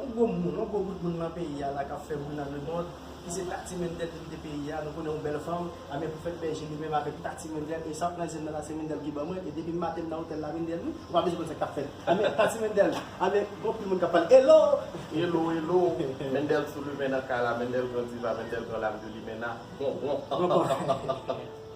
On gwo moun, on gwo bout moun nan peyi a la kap fè bri nan lemond, ki se Tati Mendel depite peyi a, nou konnen yon bèl fanm, amè pou fèt bèje li menm avèk Tati Mendel, e sa pran zen nan la se Mendel ki ban mwen, e depim maten nan otèl la Mendel wi, ou pa bezwen konn sak tap fèt, amè Tati Mendel, amè gon pil moun kap pale Elo! Elo elo! Mendel sou limen nan kay la, Mendel gran diva, Mendel gran lame de limena, bon bon.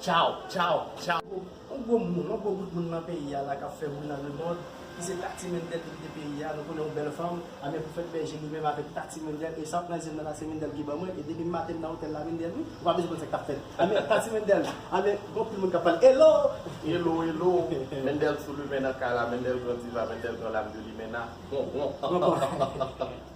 Tchaw, tchaw, tchaw. Yon gwo moun, yon gwo bout moun nan peyi a la kap fè bri nan lemond ki se Tati Mendel ki kite peyi a, nou konnen yon bèl fanm, a men pou fèt bèje li menm avèk Tati Mendel, e sa pran zyem nan la se Mendel ki ban mwen, e depim maten nan otèl la Mendel wi, ou pa bezwen konn sak tap fèt, a men Tati Mendel, a men gon pil moun kap pale Hello! Hello, hello! Mendel sou limen nan kay la, Mendel gran diva, Mendel gran lame de limena, bon, bon, han, han, han, han, han, han.